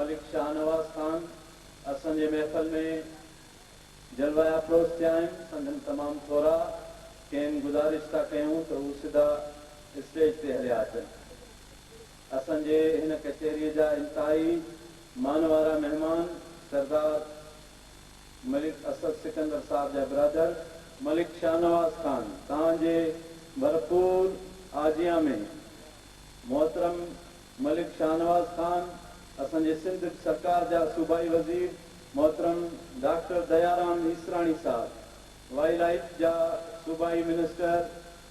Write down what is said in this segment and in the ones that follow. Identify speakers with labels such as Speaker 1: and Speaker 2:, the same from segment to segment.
Speaker 1: ملڪ شاهنواز خان اسان جي محفل ۾ جلوه افروز ٿيا آهن، سندن تمام ٿورا کين گذارش ٿا ڪيون ته هو سڌا اسٽيج تي هليا اچن. اسان جي هن ڪچهريء جا انتهائي مان وارا مهمان سردار ملڪ اسد سڪندر صاحب جا برادر، ملڪ شاهنواز خان توهان جي ڀرپور آجيان ۾ محترم ملڪ شاهنواز خان، اسان جي سنڌ سرڪار جا صوبائي وزير محترم ڊاڪٽر ديارام ايسراڻي صاحب، وائي لائيف جا صوبائي منسٽر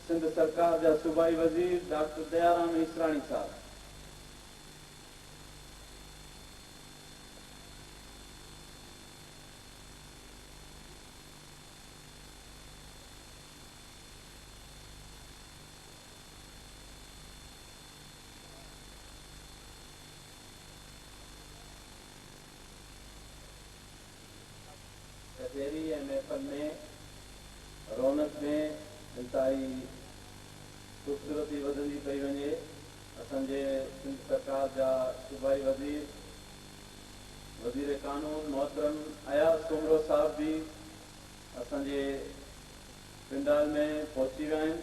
Speaker 1: سنڌ سرڪار جا صوبائي وزير ڊاڪٽر ديارام ايسراڻي صاحب، ڪچهري ۽ محفل ۾ رونق ۾ انتهائي خوبصورتي وڌندي پئي وڃي، اسان جي سنڌ سرڪار جا صوبائي وزير وزير قانون محترم اياز سومرو صاحب به اسان جي پنڊال ۾ پهچي ويا آهن.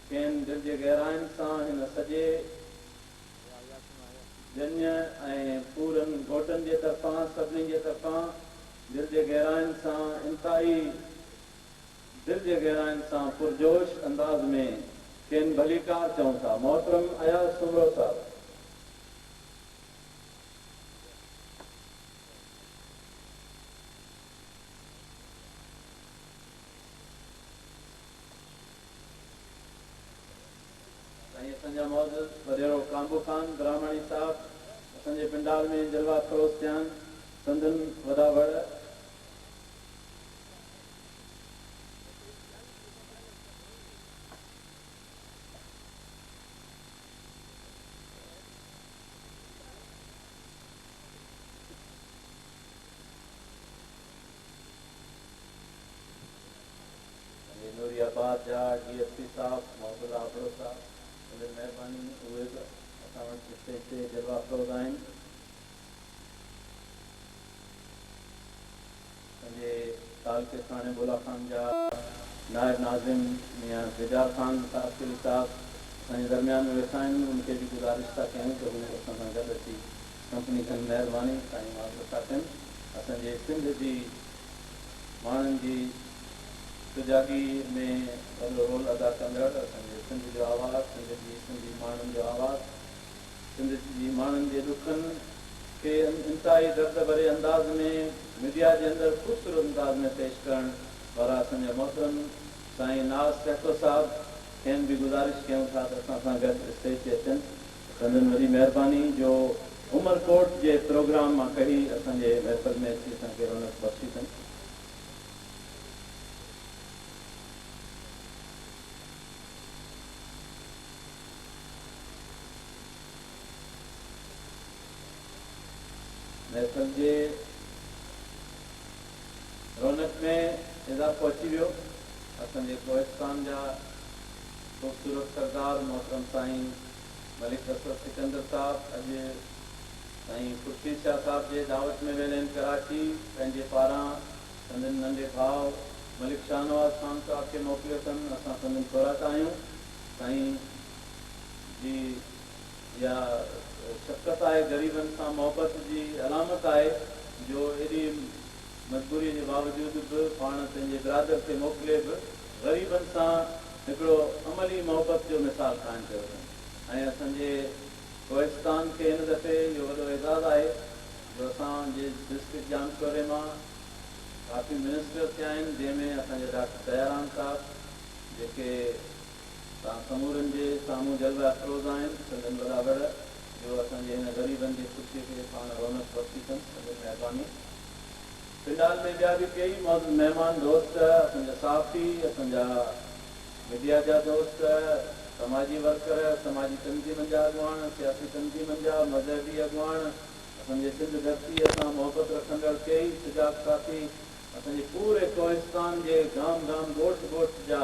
Speaker 1: کين دل جي گهراين سان هن سڄي ڄڃ ۽ پورن گهوٽن جي طرفان سڀني جي طرفان دل جي گهراين سان انتهائي دل جي گهراين سان پرجوش انداز ۾ کين ڀليڪار چئون ٿا محترم اياز سومرو صاحب! سائين اسان جا معزز وڏيرو ڪانبو خان براهماڻي صاحب اسان جي پنڊال ۾ جلوه افروز ٿيان سندن وڏا وڙ. جي نوري آباد جا ڊي ايس پي صاحب محب الله ابڙو صاحب وڏي مهرباني اهي به اسان وٽ اسٽيج تي جلوه افروز آهن پنهنجي تعلقي ساڻي بولا خان جا نائب ناظم ميان ديدار خان تاثري صاحب اسان جي درميان ۾ ويٺا آهن ان کي به گذارش ٿا ڪيون ته هو اسان سان گڏ اچي ڪمپني ڪن مهرباني سائين محب الله صاحب ڪن اسان جي سنڌ جي ماڻهن جي سجاڳي ۾ وڏو رول ادا ڪندڙ اسان جي سنڌ جو آواز، سنڌ جي سنڌي ماڻهن جو آواز، سنڌ جي ماڻهن جي ڏکن کي انتهائي درد ڀري انداز ۾ ميڊيا جي اندر خوبصورت انداز ۾ پيش ڪرڻ وارا اسان جا محترم سائين ناز سهتو صاحب کين به گذارش ڪيون ٿا ته اسان سان گڏ اسٽيج تي اچن سندن وڏي مهرباني جو عمر ڪوٽ جي پروگرام مان ڪهي اسان جي محفل ۾ اچي اسان کي رونق بخشي ٿن. محفل جي رونق ۾ اضافو اچي ويو. اسان جي ڪوهستان جا خوبصورت سردار محترم سائين. ملڪ اسد سڪندر صاحب اڄ سائين خورشيد شاهه صاحب جي دعوت ۾ ويل آهن ڪراچي پنهنجي پاران سندن ننڍي ڀاء ملڪ شاهنواز خان صاحب کي موڪليو اٿن اسان سندن خوراڪ آهيون سائين جي اها شفقت آهي غريبن سان محبت جي علامت آهي جو ايڏي مجبوري جي باوجود به پاڻ پنهنجي برادر کي موڪلي به غريبن سان هڪڙو عملي محبت جو مثال قائم ڪيو اٿن ۽ اسان جي ڪوهستان کي هن دفعي اهو وڏو اعزاز آهي جو اسان جي ڊسٽرڪٽ ڄام شوري مان ڪافي منسٽر ٿيا آهن جنهن ۾ اسان جا ڊاڪٽر ديارام صاحب جيڪي توهان سمورن جي سامهون جلوه افروز آهن سندن وڏا وڙ جو اسان جي هن غريبن جي خوشي کي پاڻ رونق بخشي اٿن سندن مهرباني پنڊال ۾ ٻيا به ڪيئي معزز مهمان دوست، اسان جا صحافي، اسان جا ميڊيا جا دوست، سماجي ورڪر، سماجي تنظيمن جا اڳواڻ، سياسي تنظيمن جا، مذهبي اڳواڻ، اسان جي سنڌ ڌرتيء سان محبت رکندڙ ڪيئي سجاڳ ساٿي، اسان جي پوري ڪوهستان جي گام گام، ڳوٺ ڳوٺ جا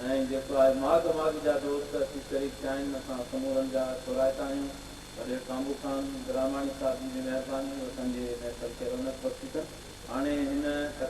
Speaker 1: ۽ جيڪو آهي ماڳ ماڳ جا دوست اچي شريڪ ٿيا آهن، اسان سمورن جا ٿورائتا آهيون. وڏي ڪامو خان گراماڻي صاحب جي به مهرباني اسان جي محفل کي رونق بخشي ٿن هاڻي هن